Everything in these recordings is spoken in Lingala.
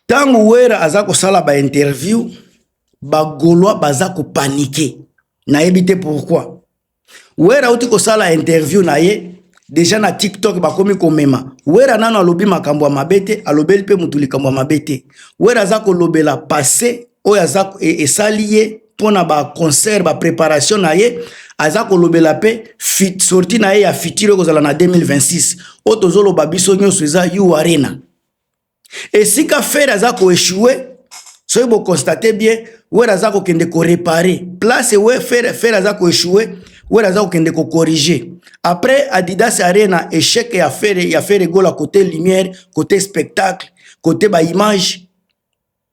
ntango wera aza kosala bainterview bagaulois baza kopanike nayebi te pourkui wera auti kosala interview na ye deja na tiktok bakomi komema wera nano alobi makambo ya mabe te alobeli mpe motu likambo ya mabe te wera aza kolobela passe oyo aza e, esali ye mpo na baconcert bapreparation na ye aza kolobela mpe sorti na ye ya futur ekozala na 2026 oyo tozoloba biso nyonso eza u arena esika fere aza koechoue soki boconstate bien were aza kokende korepare place we fere fere aza koechoue were aza kokende kokorige après adidas arena echec ya fere ya fere gola cote lumière cote spectacle cote baimage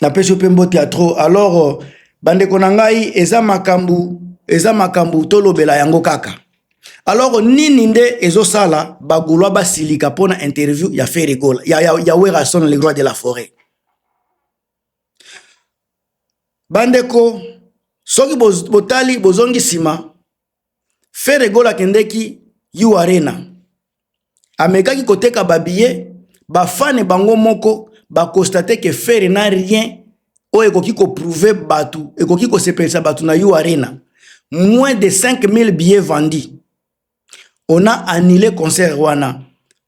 na pesi yo pe mbote ya trop alors ba ndeko na ngai eza makambu eza makambu tolobela yango kaka alors nini nde ezo sala ba golois basilika pona interview ya Ferre Gola ya, ya, ya Werrason le roi de la forêt bandeko soki botali bozongi nsima Ferre Gola akendeki U Arena, amekaki koteka babiye, bafane bango moko bakonstate ke Ferre na rien oyo ekoki koprouve bato, ekoki kosepelisa bato na U Arena. Moins de 5000 billets vendus. On a annulé concert wana.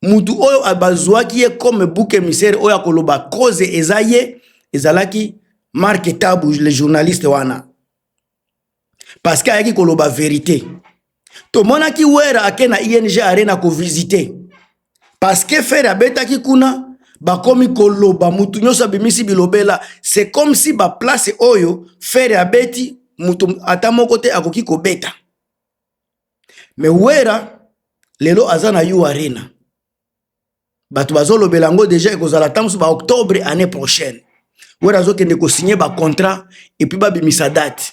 Mutu oyo bazwaki ye comme bouc émissaire oyo akoloba cause eza ye ezalaki Marc Tabu le journaliste wana. parce que ayaki koloba verite tomonaki wera ake na ing arena kovisite parce que fere abetaki kuna bakomi koloba mutu nyonso abimisi bilobela c'est comme si baplace oyo fere abeti mutu ata moko te akoki kobeta me wera lelo aza na u arena bato bazolobela yango deja ekozala ntango mosusu baoctobre année prochaine wera azokende kosigne bacontrat epuis babimisa date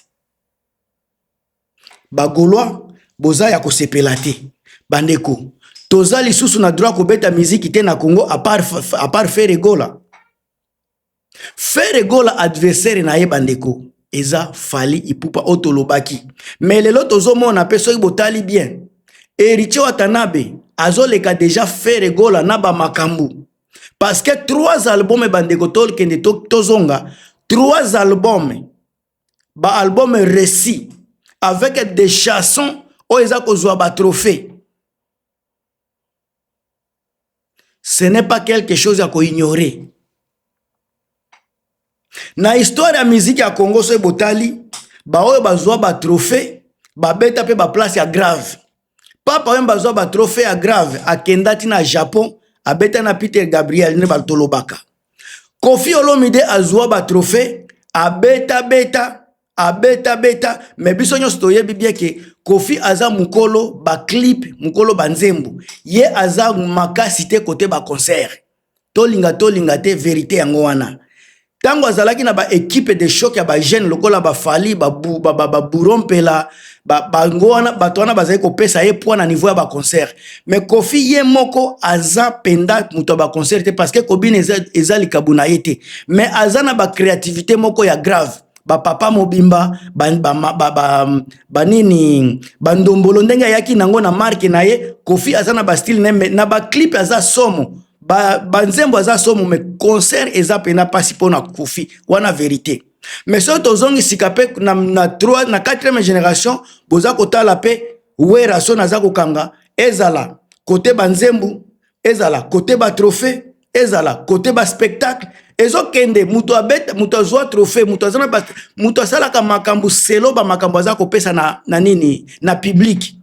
bagaulois boza ya kosepela te bandeko toza lisusu na droit kobeta miziki te na congo apart, apart feregola Ferre Gola adversaire na ye bandeko eza Fally Ipupa oyo tolobaki, mais lelo tozomona mpe soki botali bien Heritier Watanabe azoleka deja Ferre Gola na bamakambo parce que trois album bandeko tokende tozonga trois album ba album réussi avec des chansons oyo eza kozwa ba trophées ce n'est pas quelque chose ya ko ignorer na histoire ya miziki ya congo soki botali baoyo bazwa batrophée babeta mpe baplace ya grave papa oyo bazwa batrophée ya grave akenda ti na japon abeta na peter gabriel nde batolobaka kofi olomide azwa batrophée abetabeta abeta beta me biso nyonso toyebi bien ke kofi aza mokolo baclip mokolo banzembo ye aza makasi te kote baconcert tolinga tolinga te verité yango wana ntango azalaki na baekipe de choc ya bajeune lokola bafali baburo mpela bango wana bato wana bazali kopesa ye poi na niveau ya baconcert me kofi ye moko aza mpenza moto ya baconcert te parce que kobina eza, eza likabo na ye te me aza na bacreativité moko ya grave bapapa mobimba banini ba, ba, ba, ba, ba, ba ndombolo ndenge ayaki nango na marke na ye kofi aza na bastile na ye na baclipe aza somo banzembo ba aza somo me concert eza mpena mpasi mpo na kofi wana verite me soki tozongi sika mpe na, na, na 4e génération boza kotala mpe wera soni aza kokanga ezala kote banzembo ezala kote batrophée ezala kote ba spectacle ezokende moto abeta moto azwa trophée moto aza na ba moto asalaka makambo selo ba makambo aza kopesa na, na nini na public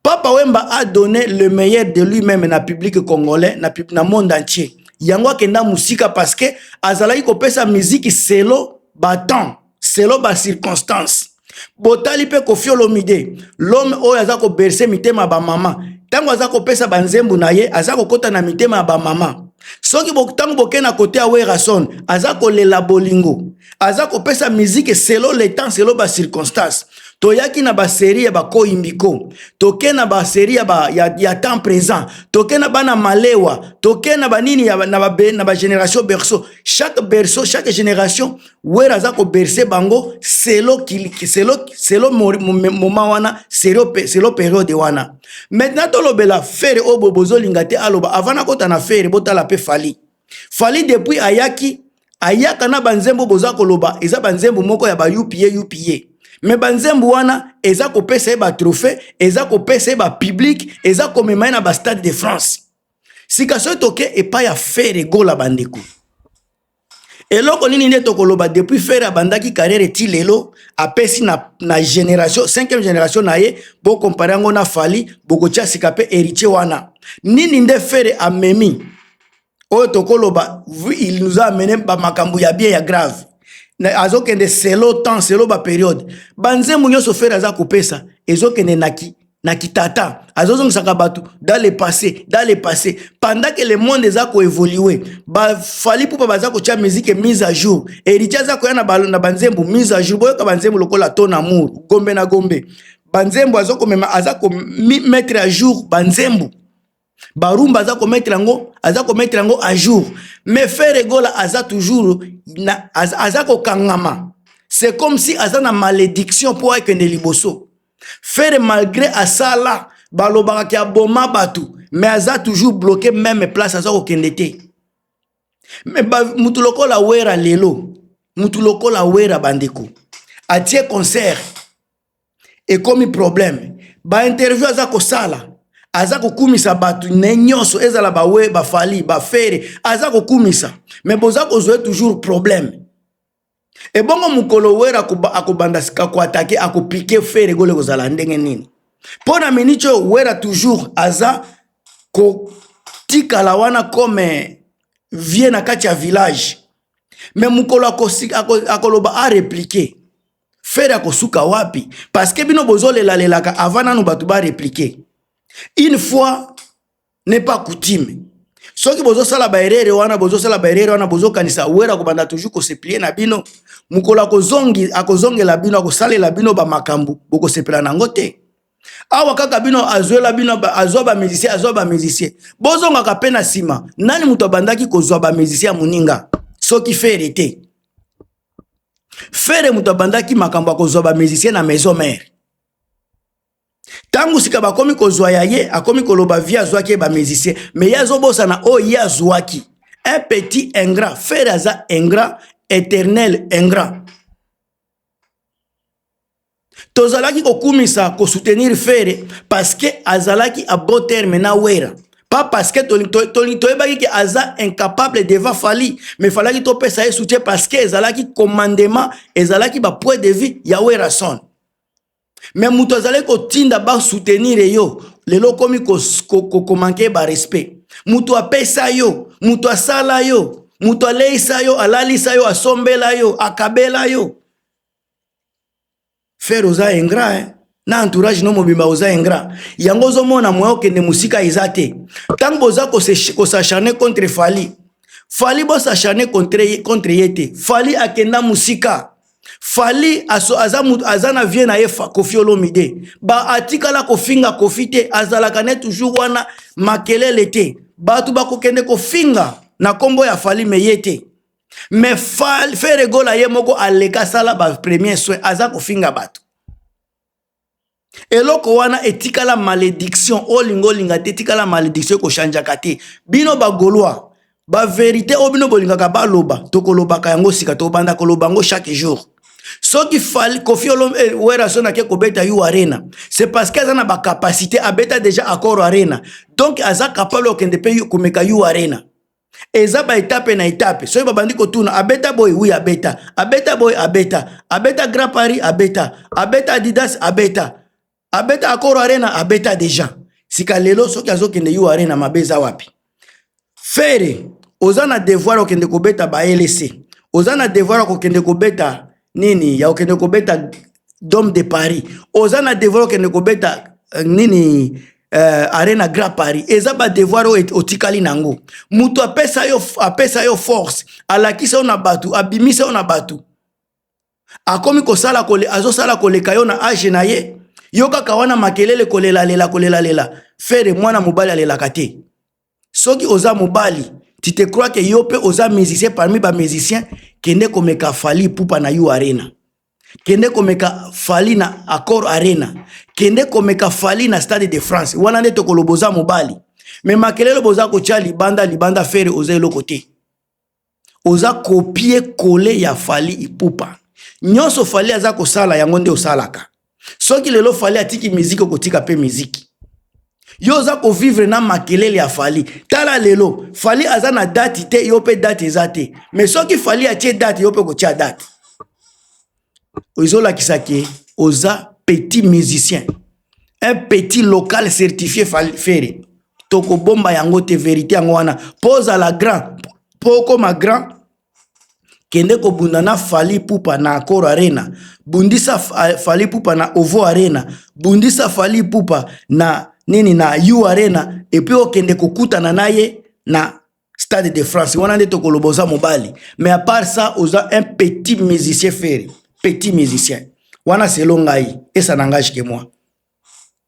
papa wemba a donné le meilleur de lui-même na public congolais na, na monde entier yango akenda mosika parce que azalaki kopesa miziki selo batemps selon ba circonstances botali mpe kofi olomide lome oyo aza koberse mitema ya bamama ntango aza kopesa banzembo na ye aza kokɔta na mitema ya bamama soki ntango boke na kote ya werason aza kolela bolingo aza kopesa miziki selo le temps selo bacirconstance toyaki na baserie ya bakoyimbiko toke na baserie ya, ba, ya, ya temps présent toke na bana malewa toke na banini ya, na, ba, na bageneration berceau chaque berceau chaque génération wera aza koberse bango selo, selo, selo moma wana selo, selo periode wana maintenant tolobela fere oyo boye bozolinga te aloba avant nakota na fere botala mpe fali fali depuis ayaki ayaka na banzembo boza koloba eza banzembo moko ya bayupie yupie me banzembo wana eza kopesa ye batrophée eza kopesa ye bapublike eza komema ye na bastade de france sika soki toke epai ya fere gola bandeko Eloko nini nde tokoloba depuis Ferre abandaki carrière ti lelo apesi na, na generation 5e generation na ye bo comparer yango na Fally bokotia sika pe héritier wana nini nde Ferre amemi oyo tokoloba il nous a amené ba makambo ya bien ya grave azokende selo temps selo ba periode banzembo nyonso Ferre aza kopesa ezokende naki na kitata azozongisaka bato dans le passé dans le passé pendant que le monde eza koévolue bafali mpo baza kotya mizike mise à jour héritier aza koya na banzembo mise à jour boyoka banzembo lokola ton amour gombe na gombe banzembo azokomema aza komettre à jour banzembo barumba aza kometre yango aza kometre yango à jour mais ferre gola aza toujours na, aza, aza kokangama c'est comme si aza na malédiction mpo akende liboso ferre malgré asala balobaka ke aboma bato mais aza toujours bloqué meme place aza kokende te mais motu lokola wera lelo motu lokola wera bandeko atie concert ekomi problème ba interview aza kosala aza kokumisa bato ne nyonso ezala bawe bafali bafere aza kokumisa me boza kozwa toujours problème ebongo mokolo were akobanda sika koatake akopike fere gole kozala ndenge nini mpo na miniti oyo wera toujours aza kotikala wana comme vie na kati ya village me mokolo akoloba areplike fere akosuka wapi parceke bino bozolelalalelaka avant nanu bato bareplike une fois ne pas coutume soki bozosala baerere wana bozosala baerere wana bozokanisa were akobanda toujours koseplie na bino mokolo akozongela bino akosalela bino bamakambo bokosepela na yango te awa kaka bino azwela bino azwa bamusicien azwa bamusicien bozongaka mpe na nsima nani moto abandaki kozwa bamusicien ya moninga soki fere te fere moto abandaki makambo ya kozwa bamusicien na maison mare ntango sika bakomi kozwa ya ye akomi koloba vie azwaki ye bamusicien me ye azobosana oyo ye azwaki un petit ingrat fere aza ingrat éternel ingrat tozalaki kokumisa kosoutenir fere parce que azalaki a bon terme na wera pas parce que toyebaki ke aza incapable devant fali mais falaki topesa ye soutien parce que ezalaki commandement ezalaki bapoint de vue ya werason mais moto azalaki kotinda basoutenir yo lelo okomi komanke barespect moto apesa yo moto asala yo moto aleisa yo alalisa yo asombela yo akabela yo Ferre oza ingrat hein? na entourage no mobimba oza ingrat yango ozomona moya okende mosika eza te ntango boza kosacharne contre fali fali bosacharne contre ye te fali akenda mosika fali aso, aza, mutu, aza na vie na ye kofi olomide ba atikala kofinga kofi te azalaka ne toujours wana makelele te bato bakokende kofinga na nkombo ya fali me ye te mais ferre gola ye moko aleka asala ba premier soin aza kofinga bato eloko wana etikala malédiction olinga olinga te etikala malédiction ekochangeaka te bino bagolois baverité oyo bino bolingaka baloba tokolobaka yango sika tobanda koloba yango chaque jour soki fali kofi olom eh, werason ake kobeta yo arena c'est parce que aza na bacapacité abeta déjà accord arena donc aza capable okende mpe komeka yo arena eza ba etape na etape soki babandi kotuna abeta boye wi abeta abeta boye abeta abeta grand paris abeta abeta adidas abeta abeta akoro arena abeta deja sika lelo soki azokende yo arena mabe eza wapi fere oza na devoir okende kobeta ba lc oza na devoir ya kokende kobeta nini ya okende kobeta dome de paris oza na devoir okende kobeta uh, nini uh, arena grand paris eza badevoir oyo otikali na yango moto apesa yo, apesa yo force alakisa yo na bato abimisa yo na bato akomi kosala kole, azosala koleka yo na age na ye yo kaka wana makelele kolelalela kolelalela fere mwana mobali alelaka te soki oza mobali tu te crois que yo pe oza musicien parmi ba musiciens kende komeka fali pupa na you arena kende komeka fali na accord arena kende komeka fali na stade de france wana nde tokoloba oza mobali me makelelo boza kotya libanda libanda fere oza eloko te oza kopie kole ya fali ipupa nyonso fali aza kosala yango nde osalaka soki lelo fali atiki miziki okotika mpe miziki yo oza kovivre na makelele ya fali tala lelo fali aza na dati te yo mpe dati eza te me soki fali atie dati yo mpe okotia dati ezolakisa ke oza petit musicien un petit local certifie Ferre tokobomba yango te verite yango wana po ozala grand po okoma grand kende kobunda na Fally Ipupa na Accor Arena bundisa Fally Ipupa na Ovo Arena bundisa Fally Ipupa na nini na U Arena epuis okende kokutana na ye na stade de france wana nde tokoloba oza mobali mais à part ça oza un petit musicien fere petit musicien wana selo ngai esa nangage ke moi